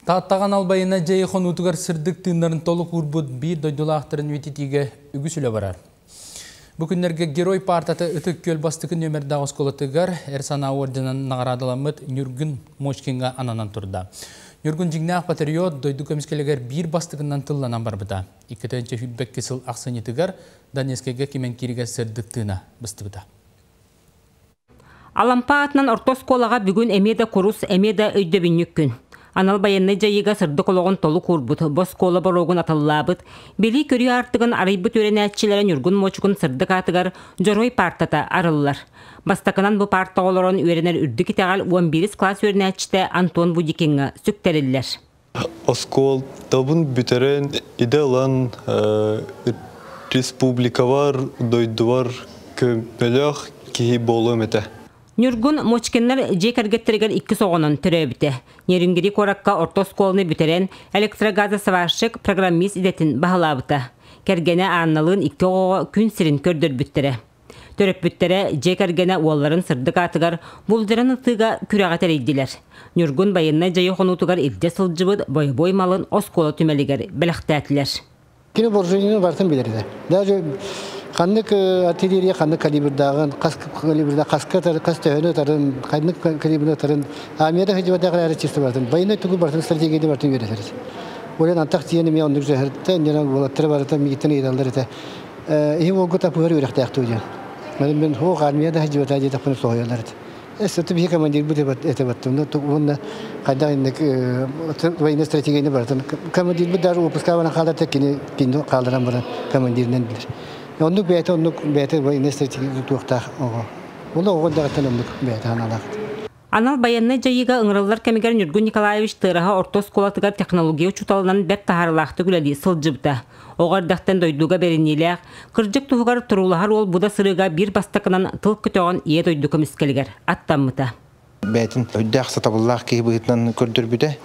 Тааттаҕа Албайына дьиэ хонуутугар сырдык тыыннарын толук уурбут биир дойдулаахтарын үтүтүүгэ үгүс үлэ барар. Бу күннэргэ Герой паартата Ытык Күөл бастакы нүөмэрдээх оскуолатыгар эр санаа уордьанан наҕараадаламмыт Ньургун Мочкинга ананан турда. Ньургун дьиҥнээх патриот дойду көмүскэлигэр биир бастакынан тылланан барбыта. Иккитинчи сүүрбэкки сыл ахсынньытыгар Донецкайга Кимэнкииригэр сырдык тыына быстыбыта. Алампа аатынан орто оскуолаҕа бүгүн эмиэ да курус, эмиэ да өйдөбүнньүк күн. Анал байыаннай дьайыыга сырдык олоҕун толук уурбут, бу оскуола боруогун атыллаабыт, билии-көрүү аартыгын арыйбыт үөрэнээччилэрэ Ньургун муочукун сырдык аатыгар Дьоруой паартата арыллар. Бастакынан бу паарта оҕолорун үөрэнэр үрдүк итэҕэл уон биирис кылаас үөрэнээччитэ Антон Будикиҥҥа сүктэриллэр. Оскуолабын бүтэрэн идэ ылан республикабар, дойдубар көмөлөөх киһи буолуом этэ. Ньургун Мочкиннар дьиэ кэргэттэригэр иккис оҕонон төрөөбүтэ. Нерюнгри куоракка орто оскуоланы бүтэрэн электрогазосварщик, программист идэтин баһылаабыта. Кэргэнэ Анналыын икки оҕоҕо күн сирин көрдөрбүттэрэ. Төрөппүттэрэ дьиэ кэргэнэ уолларын сырдык аатыгар булдуран ытыыга күрэҕи тэрийдилэр. Ньургун байыаннай дьайыы хонуутугар илдьэ сылдьыбыт бойобуой малын оскуола түмэлигэр бэлэхтээтилэр. Кини вооружениены барытын билэринэ. Даже ханнык артиллерия ханнык калибрдааҕын, хас калибрда хаска хас төһөнү ытарын, ханнык калибрны ытарын, армияда хадьыбадаах эрэ чисто барытын, военной тугу барытын стратегияны барытын үөрэтэр. Ойон антах тиийэн эмиэ оннук зөһөртө, иннинэ уолаттары барыта миигиттэн ыйыталлар этэ. иһим олгу тапыгар үрэхтээхтүү диэн мен хох армия да хаживата диетапын соһуяларыт эс ты бихе командир бут это баттым уонна хайдах инник военная стратегияны баратын командир бут даже выпускавана хаалар теккини кино хааларан баран командиринен билир оннук бэйте оннук бэйте военная стратегия туохтаах оҕо ол оҕо дагаттан оннук бэйте ханалаахт Анал байыаннай дьайыыга ыҥырыллар кэмигэр Ньургун Николаевич Тыараһа орто оскуолатыгар технология учууталынан бэрт таһаарыылаахтык үлэлии сылдьыбыта. Оҕо эрдэхтэн дойдуга бэриниилээх, кырдьык туһугар туруулаһар уол бу да сырыыга биир бастакынан тыл көтөҕөн ийэ дойду көмүскэлигэр аттаммыта. Бэйэтин өйдөөх, сатабыллаах киһи быһыытынан көрдөрбүтэ.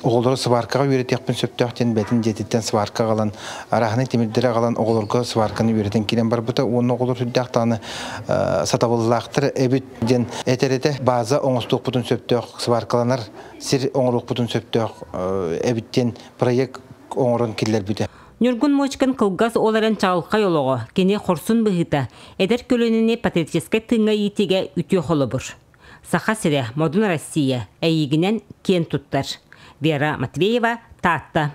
оҕолору сваркаҕа үөрэтиэхпин сөптөөх диэн бэтин дьиэтиттэн сварка аҕалан араһынай тимирдэри аҕалан оҕолорго сварканы үөрэтэн киирэн барбыта уонна оҕолор сүрдээх даҕаны сатабыллаахтар эбит диэн этэрэтэ база оҥостуохпутун сөптөөх сваркаланар сир оҥоруохпутун сөптөөх эбит диэн проект оҥорон киллэрбитэ Ньургун мочкан кылгас оларын чаҕылхай олоҕо, кини хорсун быһыыта, эдэр көлөнүни патриотическай тыыҥҥа иитиигэ үтүө холобур. Саха сирэ, Модун Россия, эйиигинэн киэн туттар Вера Матвеева, Таатта.